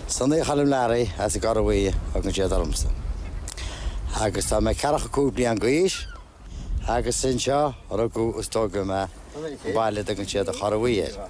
Sonaí Choilm Learaí as an gCorra Bhuí a thugann siad ormsa agus tá mé 45 bliain d'aois agus anseo rugadh is tógadh mé an baile a dtugann siad an Chorra Bhuí air.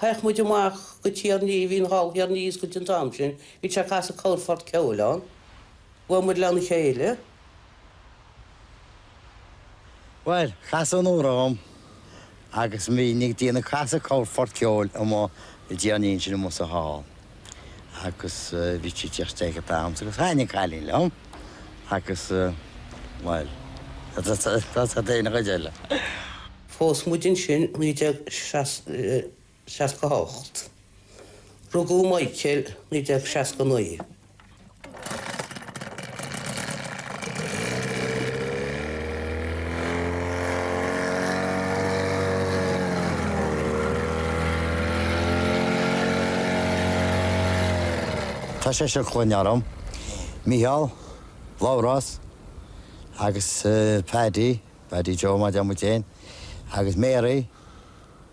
Chuaigh muid amach go Tír an Fhia, bhí an hall ar a dtaobh ó scoil an t-am sin, bhí sé ag casadh corrphort ceoil ann, bhuail muid lena chéile. Bhuel, casadh an uair orm agus bhínn ag déanamh casadh corrphort ceoil amuigh i dTír an Fhia ansin amuigh sa hall. Agus bhí sí ag tíocht isteach ag an am agus thaithnigh an cailín liom agus bhuel, that's it an chuid eile. Phós muid ansin 1968. Rugadh Michael 1969. Tá seisear clainne orainn, Mícheál, Labhrás agus Paddy, Paddy Joe mar a deir muid fhéin, agus Mary.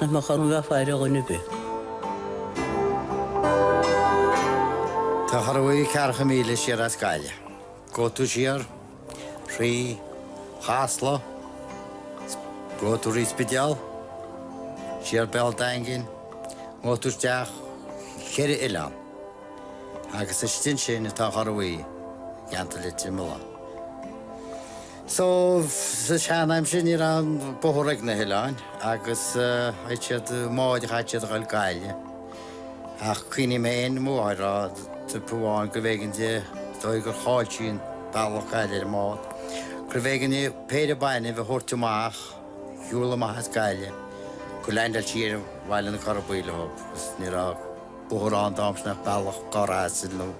Nach mbeadh orm bheith ag faire ar dhuine ar bith. Tá an Chorra Bhuí ceathracha míle siar as Gaillimh, gabhfaidh tú siar, thrí Chasla, gabhfaidh tú thrí Spidéal, siar Béal Daingin, gabhfaidh tú isteach cheithre oileán, agus istigh ansin atá an Chorra Bhuí i gceantar Leitir Mealláin. So, sa tseanaimsir ní raibh bóthar ag na hoileáin agus chaith siad i mbád a chaith siad a dhul go Gaillimh. Ach cuimhním ar mo mhamó a rá babhta amháin gurbh éigean di de bharr gur chaill sí an bealach go Gaillimh ar an mbád, gurbh éigean di péire bainbh a thabhairt amach, a shiúl amach as Gaillimh, gur leaindeáil sí ar Bhaile na Corra Buí leo agus ní raibh bóthar ann an t-am sin ach bealach gaire asail nó.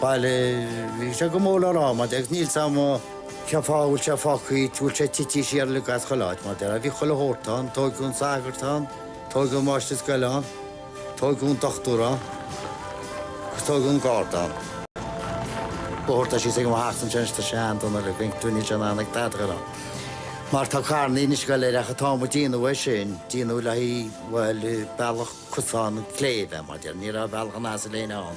Baile bhí sé go mór le rá, ach níl 's am' cén fáth a bhfuil sé fágtha thíos, bhfuil sé tití siar le hais chuile áit, mar bhí chuile shórt ann, tóigeadh an sagart ann, tóigeadh an máistir scoile ann, tóigeadh an dochtúir ann, agus tóigeadh an garda ann. Bóthar atá síos go háit ansin atá seandaoine le pinsean, níl sé in ann ag tada go lá, mar tá carranna ag goil ar ach a táimid díonamh é sin, díonamh le haghaidh, bhuel, bealach cosán an chléibh, mar ní raibh bealach an asail fhéin ann.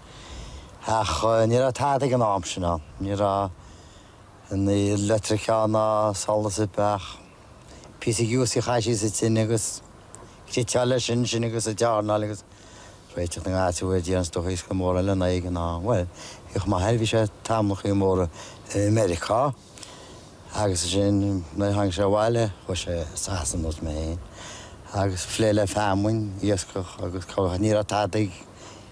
Ach ní raibh tada ag an am sin. Ní raibh aon leictreachas ann ná solas ar bith ach píosa giúis a chaití sa tine agus cniotáil leis sin sin agus ag dearnáil agus réiteach na ngeáitse uair déan is dócha is go mór eile ná é ag an am. Bhuel, bhí chomh maith air, bhí sé tamallachaí móra i Meiriceá agus ansin nuair a tháinig sé abhaile chuaigh sé Sasana ar nós mé féin agus plé le feamainn, iascach agus cá bhfios, ní raibh tada ag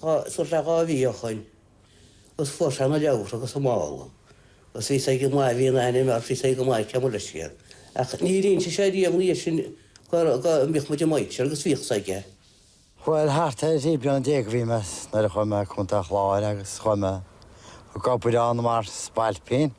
Sular dheachaigh mé a chaint agus fuair sé na leabhra agus an mála agus bhí sé go maith, bhí an aithne mar bhí sé go maith ag ceimiléis. Ach níor inse sé riamh ina dhiaidh sin go mbíodh muid ag maíte agus bhíodh sé ag. Bhuel, thart ar 13 bliain a bhí mé nuair a chuaigh mé Contae an Chláir agus chuaigh mé ag obair ann mar spailpín.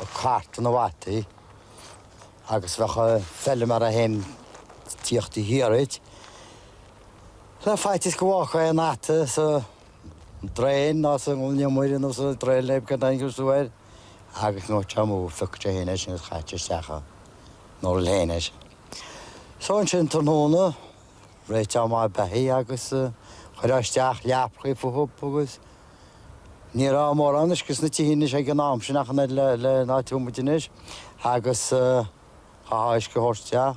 Ag cartadh na bhfataí agus bheadh an feilméara fhéin ag tíocht i do dhiaidh le faitíos go bhfágfaí aon fhata sa draein nó sa ngloine nó sa draein le go dtaingeodh sú air agus nuair a thiocfadh sé amú phiocadh sé fhéin é sin agus chaiteadh isteach an url fhéin air. So ansin tráthnóna réiteach na mbeithígh agus a chur isteach leapachaí fúthu agus. Ní raibh mórán áiseanna sna tithe anois ag an am sin ach an oiread lena tithe muide anois agus chaithfeá uisce a thabhairt isteach,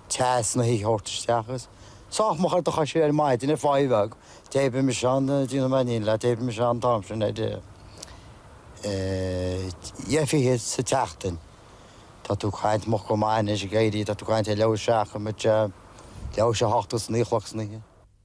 teas na dtithe a thabhairt isteach agus sách moch ar do chois ar maidin ar pháigh bheag, d'oibrigh mise ann, d'inseoinn leat, d'oibrigh mise ann an t-am sin ar dheich fhichead sa tseachtain. Tá tú ag caint moch go maith anois ag éirí, tá tú ag caint ar leathuair tar éis a seacht, leathuair tar éis a hocht go dtí naoi a chlog san oíche.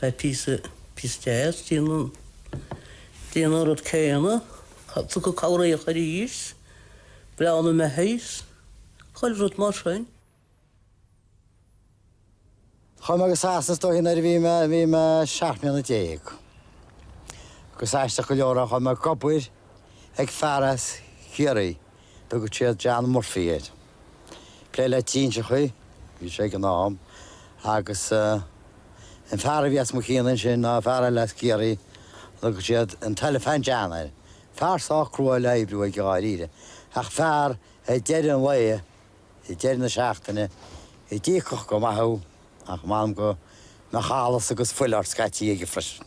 Tá píosa píosa deas déanamh déanamh an rud céanna. Tabhairt cabhair dhíobh aríst, breathnú i ndiaidh beithígh is, chuile rud mar sin. Chuaigh mé go Sasana as dó sin nuair a bhí mé bhí mé seacht mbliana déag. Agus aisteach go leor chuaigh mé ag obair ag fear as Ciarraí. Thugadh siad John Murphy air. Plé le trinseachaí a bhí sé ag an am agus an fear a bhí os mo chionn ansin ná fear eile as Ciarraí, thugadh siad an tElephant John air. Fear sách crua le hoibriú aige dháiríre ach fear ag deireadh an lae, ag deireadh na seachtaine, a d'íocfadh go maith thú ach m'anam go mbeadh allas agus fuil ort scaití aige freisin.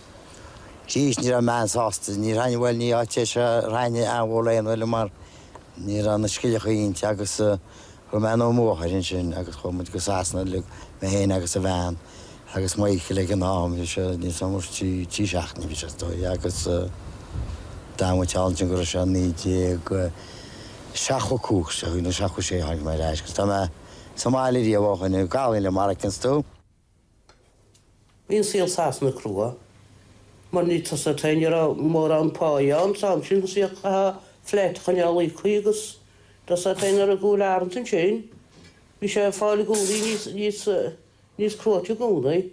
Jeez, ní raibh mé an-sásta. Ní raibh, bhuel, ní áit é seo a raibh an-mhórán, bhuel mar ní raibh na scilleacha ann agus chuaigh mé anonn an athuair ansin agus chuaigh muid go Sasana uilig, mé féin agus an bhean agus Michael ag an am, ní raibh sé mórán trí, trí seachtaine a bhí sé is dóigh agus d'fhan muid thall ansin go raibh sé naoi déag seachtó a cúig, seachtó, seachtó sé a tháinig mé ar ais agus tá mé sa mbaile riamh ó shin, Gaelainn le Maricans tú? Bhí an saol Sasana crua, mar níos túisce ní raibh mórán páighe ann an t-am sin chaithfí flat a choinneáil ag íoc agus tusa atá in ar an gcúl anyways ansin bhí sé ag fáil gúnaí níos níos níos cruaite i gcónaí.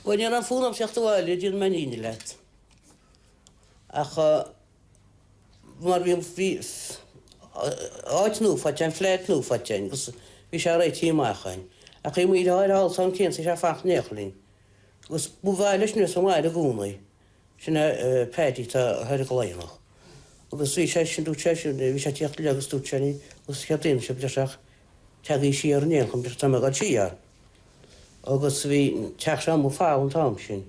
Bhuel ní raibh fonn orm theacht abhaile déanfaidh mé an fhírinne leat ach mar bhí áit nua faighte againn, flat nua faighte againn agus bhí sé réitithe amach againn. Ach bhí muid ar fáil ansin féin, thosaigh sé ag fanacht in éineacht linn. Agus ba mhaith leis mise abhaile i gcónaí. Sin é Paddy atá thoir i gCladhnach. Agus bhí sé sin, dúirt sé sin, bhí sé ag tíocht liom agus dúirt sé, agus céard a dhéanfadh sibh leis ach. teagaí siar in aon chor mar tá mé ag dul siar agus bhí an teach seo amuigh falamh an t-am sin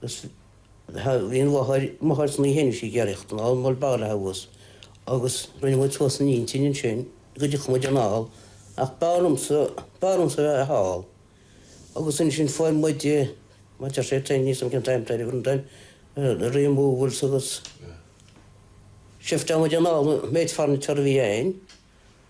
agus bhí an mháthair, máthair Ní Sheinis ag iarraidh thíocht anall mar b'fhearr léi abhus agus rinne muid suas an intinn ansin go dtiocfadh muid anall ach b'fhearr liomsa, b'fhearr liomsa a bheith thall agus ansin fuair muid, mar deir sé féin níos mó an t-am taobh an don removal agus shifteáil muid anall an méid furniture a bhí a'inn.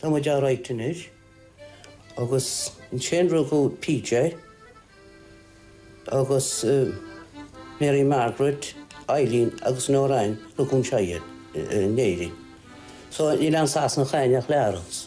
Tá muid alright anois. Agus ansin rugadh PJ agus Mary Margaret, Eileen agus Noreen, rugadh anseo iad, in Éirinn. So níl ina Sasanach againn ach Labhrás.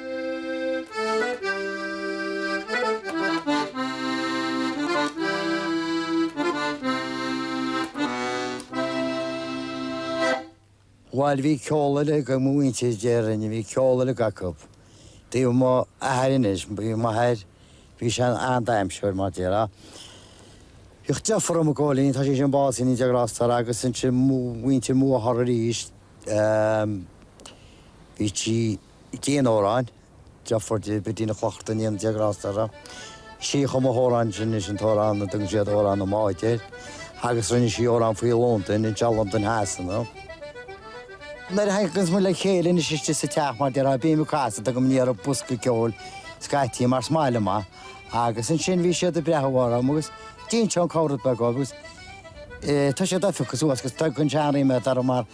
Bhail bhí ceol uilig ag mo mhuintir déarfainn, bhí ceol uilig acu. Taobh m'athar anois, bhí m'athair, bhí sé an-damhsóir mar déarfá. Bhíodh deartháir dhom Cóilín, tá sé sin básaithe go ndéana Dia grásta air agus ansin mo mhuintir mháthartha aríst, bhí sí, Dhein amhráin deirfiúr di, Bid Ní Lochlainn, go ndéana Dia grásta uirthi chum sí amhráin sin é an t-amhrán a dtugann siad 'Amhrán na mBád' air agus rinne sí amhrán faoi Londain, i dteach Londain Shasana. Nuair a thaganns muid le chéile anois istigh sa teach, mar a déarfá bím ag casadh amhrán nó ar bhosca ceoil scaití mar sin amach agus ansin bhí siad ag breathnú orm agus déanaim comhrá beag dhóibh agus tá siad millte suas agus tugann seanrí mé dá raibh mar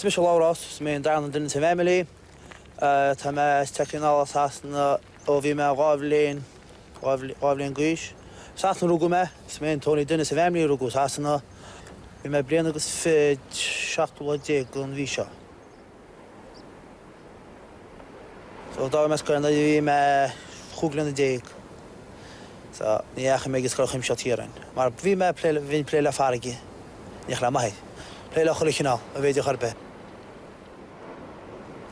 Is mise Labhrás, is mé an darna duine sa bhfeimilí. Tá mé tar éis teacht anall as Sasana ó bhí mé dhá bhliain, dhá bhliain d'aois. I Sasana a rugadh mé, is mé an t-only duine sa bhfeimilí a rugadh i Sasana. Bhí mé bliain agus fiche an seachtú lá déag an mhí seo. D'fhág mise an scoil nuair a bhí mé chúig bliana déag so ní dheachaigh mé ag an Scoil Chuimsitheach Chiaráin mar bhí mé ag plé, bhínn ag plé le farraigí, in éineacht le m'athair, plé le chuile chineál ab fhéidir chor ar bith.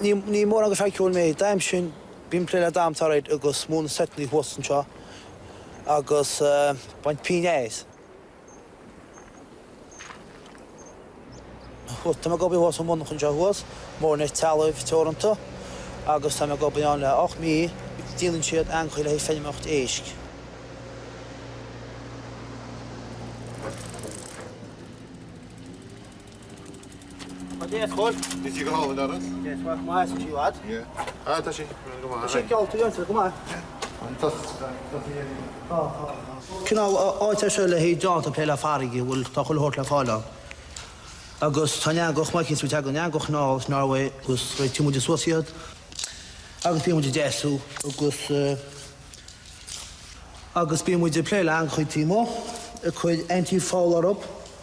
Ní, ní mórán d'fhear ceoil mé, d'aidhm sin bím ag plé le damhsa alright agus múineadh seiteanna thuas anseo agus eh baint píneáis. Tá mé ag obair thuas sa monarchan seo thuas, Morenet Trealamh Teoranta, agus tá mé ag obair ann le ocht mí. Díolann siad eangachaí le haghaidh feilméaracht éisc. Cineál áit é seo le haghaidh daoine atá ag plé le farraigí a bhfuil, tá chuile shórt le fáil ann. Agus tá an eangach, teagann an eangach anuas as Norway agus réitíonn muid suas iad agus bíonn muid ag deasú agus agus bíonn muid ag plé le eangachaí taobh amuigh ag cur antifoul orthu.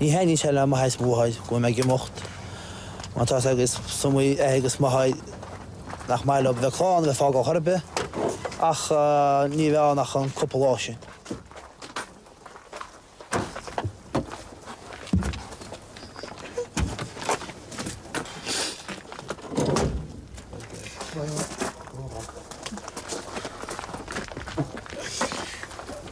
Ní thaitníonn sé le m'athair is mo mháthair go bhfuil mé ag imeacht, mar tá a fhios agat is iomaí athair agus máthair nach maith leo bheith clann a bheith fágáil chor ar bith, ach ní bheidh ann ach an cúpla lá sin.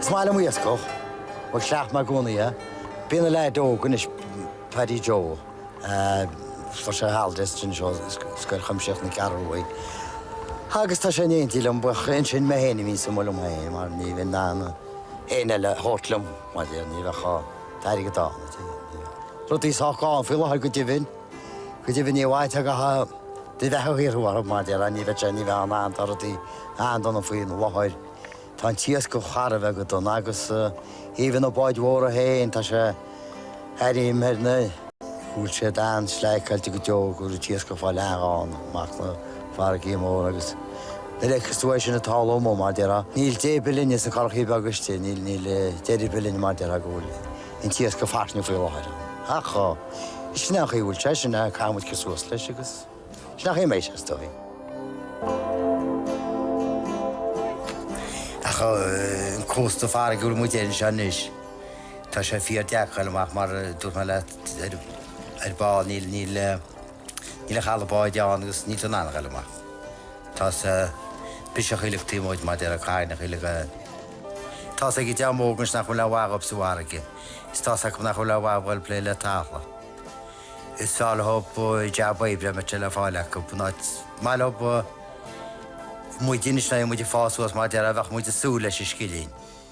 Is maith liom iascach, bhuel chleacht mé i gcónaí é. Bíonn an leaid óg anois, Paddy Joe, fuair sé holidays anseo ó Scoil Chuimsitheach na Ceathrún Rua agus tá sé in éindí liom, bhuel ansin mé féin a bhíonns amuigh liom féin mar ní bhíonn aon éinne eile a thabhairt liom, mar a deir, ní bheadh an t-airgead ann, rudaí sách gann faoi láthair go deimhin. Go deimhin, níor mhaith le cách di bheith a shaothrú orthu, mar deir ní bheadh sé ní bheadh an dara duine ann faoi láthair, Tá an t-iascach thar a bheith go dona agus even na báid mhóra féin, tá sé thar am ar na. Bhuel siad an-sleáigh caillte go deo go bhfuil an t-iascach fá leathadh ann amach na farraigí móra agus na leiceann is uaidh sin ag tarlú amuigh, mar deir Níl dé bith linne sna currachaí beaga istigh, níl deireadh bith linn mar deir go bhfuil an t-iasc go fairsing faoi láthair. Ach sin an chaoi a bhfuil sé, sin a gcaithfidh muid cur suas leis agus sin an chaoi a mbeidh sé, is dóigh. Ach an cósta farraige a bhfuil muid air anseo anois, tá sé fíor deacair a dhul amach mar a dúirt mé leat ar ball, níl, níl, Níl ach eala báid ann agus níl tú in ann a ghoil amach. Tá's biseach uileag taobh amuigh de mar deir an Cadhnach, uileag atá's ag an dream óg anois nach bhfuil aon mhaith dhóibh sa bhfarraige, is tá's acu nach bhfuil aon mhaith dhóibh plé le talamh. Is fearr leob jab oibre dá mbeadh sé le fáil acu in áit is maith leob muide anois nuair a bhí muid ag fás suas mar a déarfá bheadh muid ag súil leis an scilling.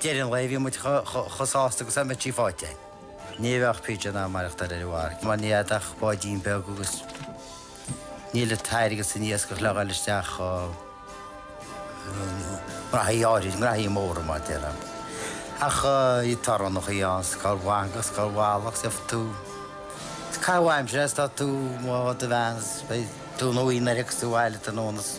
deireadh an lae, bhí muid chomh sásta agus dá mbeadh sí faighte. Ní bheadh PJ in ann maireachtáil ar an bhfarraige, mar níl agat ach báidín beag agus níl an t-airgead san iasc ach le ghoil isteach i ngraithí áirid, graithí móra, mar a déarfá. Ach bhí torannacha ann, is cár mhaith agus cár mhall agus deirfeadh tú, caithfidh aimsir, a's tá tú, mo, do bhean, a's beidh tú in aonar agus tú abhaile tráthnóna, a's.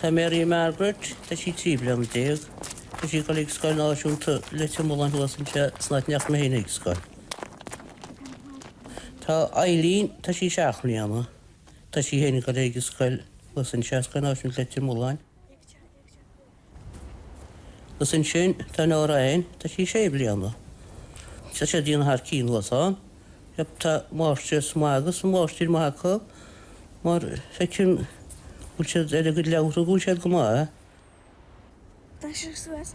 Tá Mary Margaret, tá sí trí bliana déag. Tá sí ag dul ag scoil náisiúnta Leitir Mealláin thuas anseo san áit a ndeachaigh mé féin ag scoil. Tá Eileen, tá sí seacht mbliana. Tá sí féin ag dul ag scoil thuas anseo, Scoil Náisiúnta Leitir Mealláin. Agus ansin tá Lorraine, tá sí sé bliana. Tá siad ag déanamh thar cionn thuas ann. Yep, tá máistreas maith agus máistir maith acu mar feicim go bhfuil siad ar a gcuid leabhartha go bhfuil siad go maith. Tá sé suas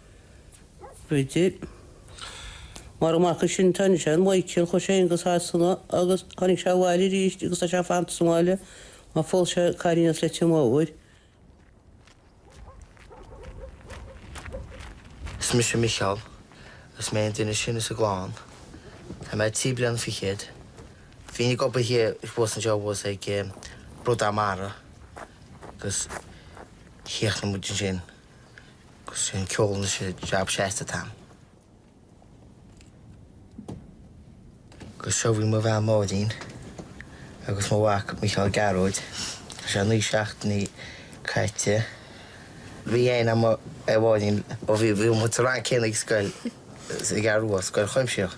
Bridget, Mar an mac is sine atá againn sin Maidhcil chuaigh sé fhéin go Sasana agus tháinig sé abhaile aríst agus tá sé fanta sa mbaile mar phós sé cailín as Leitir Móir. Is mise Micheál agus mé an duine is sine sa gclann. Tá mé trí bliana fichead. Bhínn ag obair thiar i Ros an Deabhail ag Bradán Mara agus chríochnaigh muid ansin. Is é an ceol anois an jab seasta atá agam. Agus seo í mo bhean Máirín agus mo mhac Micheál Gearóid. Tá sé naoi seachtainí caite. Bhí aithne agam ar Mháirín ó bhí muid sa rang céanna ag scoil, ar an gCeathrú Rua, Scoil Chuimsitheach.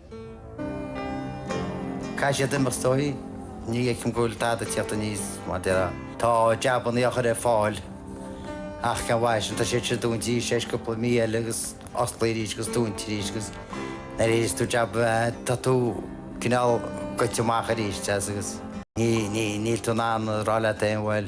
Caithfidh siad imeacht is dóigh. Ní fheicim go bhfuil tada ag teacht aníos mar a déarfá. Tá jabanna eochair ar fáil ach cén mhaith sin. Tá siad sin dúnta tar éis cúpla mí eile agus osclaithe arís agus dúnta arís agus nuair a fhaigheas tú jab tá tú cineál goite amach arís, deas, agus níl tú in ann a rá leat féin bhuel